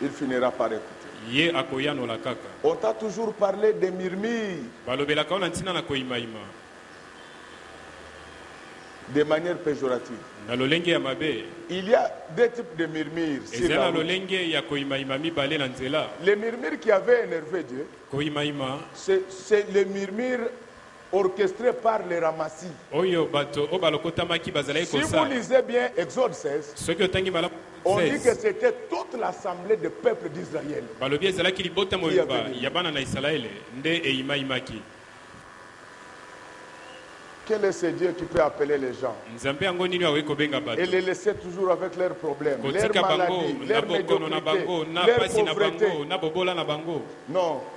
Il finira par ecouter. Ye akoyanola kaka. On t'a toujours parle des murmures. Balobelaka yo na ntina na koimaima. De manière pejorative. Na lolenge ya mabe. Il y a deux types de murmures sur la route. Ezali na lolenge ya koimaima mibale na nzela. Les murmures qui avaient enerve Dieu. Koimaima. C'est les murmures orchestre par les Ramassis. Oyo bato oyo balokotamaki bazalaki kosala. Si vous lisez bien Exode 16. Soki otangi malamu Exode 16. On dit que c'etait toute l'assemble de peuple d'Israël. Balobi ezalaki libota mobimba ya bana na Isalaele nde eyimayimaki. Quel est ce Dieu qui peut appeler les gens? Nzambe yango nini oyo akoki kobenga bato? Et les laisser toujours avec leurs problèmes, leurs maladies, leurs médiocrités, leurs pauvretés? Non.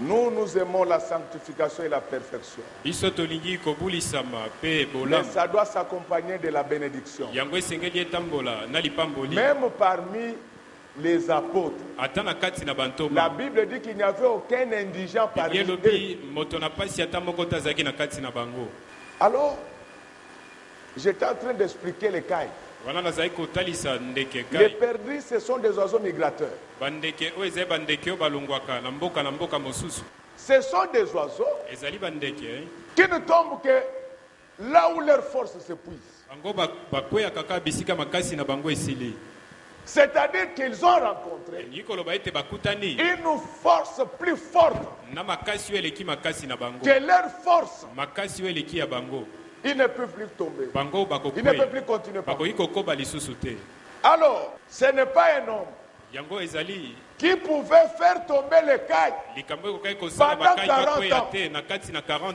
Nous, nous aimons la sanctification et la perfection. Biso tolingi kobulisama mpe Mais bolamu. ça doit s'accompagner de la benediction. Yango esengeli etambola na lipamboli. Meme parmi les apotres, Ata na kati na bantoma, la Bible dit qu'il n'y avait aucun indigent Biblia parmi elobi eux. moto na mpasi ata moko te azalaki na kati na bango. Alors, J'etais en train d'expliquer les cailles. Wana nazalaki kotalisa ndeke Les ngai. perdrix ce sont des oiseaux migrateurs. Bandeke oyo ezali bandeke oyo balongwaka na mboka na mboka mosusu. Ce sont des oiseaux Ezali bandeke. qui ne tombent que là où leurs forces s'epuisent. Bango ba, bakweyaka kaka bisika makasi na bango esili. c'est-à-dire qu'ils ont rencontre, elingi koloba ete bakutani une force plus forte na makasi oyo eleki makasi na bango, que leur force, makasi oyo eleki ya bango, ils ne peuvent plus tomber, bango ils ne peuvent bakokwea, plus continuer par bakoki kokoba lisusu te. Alors, ce n'est pas un homme Yango ezali qui pouvait faire tomber les Cayes likambo oyo ekokaki kosala pendant Bakayi 40 bakwea ans. te na kati na 40.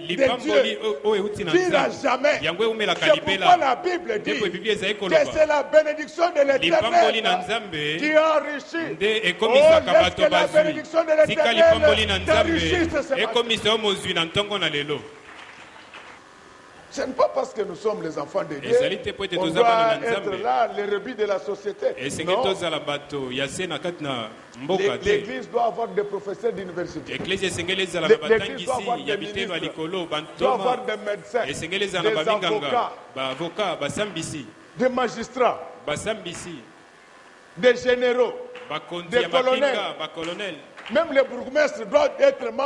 lipamboli oyo euti na nzambe yango eumelaka libela ndeko ebibi ezali kolobaalipamboli na nzambe nde ekomisaka oh, bato bazwi tika lipamboli na nzambe ekomisa yo mozwi na ntongo na lelo Ce n'est pas parce que nous sommes les enfants de Dieu qu'on doit être là, les rebis de la société. Non. mboka te. Eklezia esengeli ezala na batangisi ya biteno ya likolo, bantoma, esengeli ezala na baminganga, baavoka, basambisi, basambisi, bakonzi ya mapinga, bakolonele.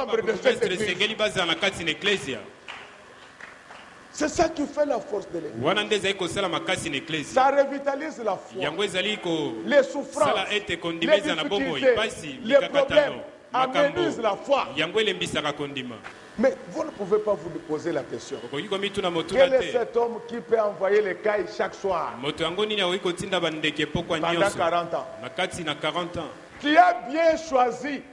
Baburgumestre esengeli bazala na kati na Eklezia. C'est ça qui fait la force de l'Eglise. Wana nde ezali kosala makasi na Eklezia. Ça revitalise la foi. Yango ezali kosala ete kondima ezala na bomoi. Pasi, mikakatano, makambo, yango elembisaka kondima. Mais vous ne pouvez pas vous poser la question. Okoki komituna motuna te. Quel est cet homme qui peut envoyer les cailles chaque soir? Moto yango nini akoki kotinda bandeke pokwa nyonso? Pendant 40 ans. Na kati na 40 ans. Tu as bien choisi.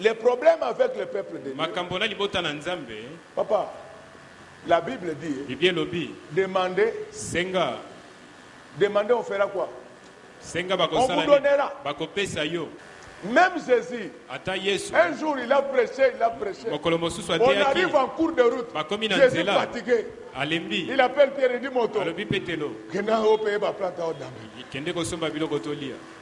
Le problème avec le peuple de Dieu. Makambo na libota na Nzambe. Papa, la Bible dit. Biblia elobi. Demandez. Senga. Demandez on fera quoi? Senga bakosala. On vous donnera. Bakopesa yo. Même Jésus, Ata Yesu, un jour il a prêché, il a prêché. On arrive en cours de route. Jésus fatigué. Alembi. Il appelle Pierre et dit Moto. Alobi Petelo. Kenda opeye ba planta odame. Kende kosomba biloko tolia.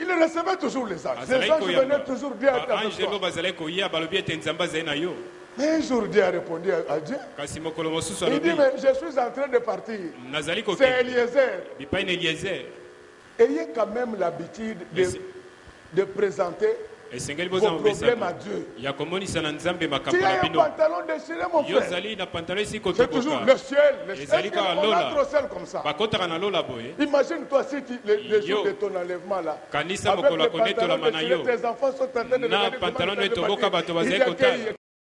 Il recevait toujours les anges. Les Azalaki anges koyamba. venaient toujours dire avec Baanjelu toi. bazalaki koya, balobi ete Nzambe azali na yo. Mais un jour, Dieu a répondu à à Dieu. Kasi mokolo mosusu Il dit, alobi, mais je suis en train de partir. nazali C'est kokende Eliezer. bipai na Eliezer. Ayez quand même l'habitude de, Merci. de présenter Esengeli bozwa momesano ya komonisa na Nzambe makambo na bino. Yo ozali na pantalo esi kotoboka, ezali kaka lola. Bakotaka na lola boye. Yo kanisa mokolo ya konetolama na yo na pantalo no etoboka, bato bazali kotala.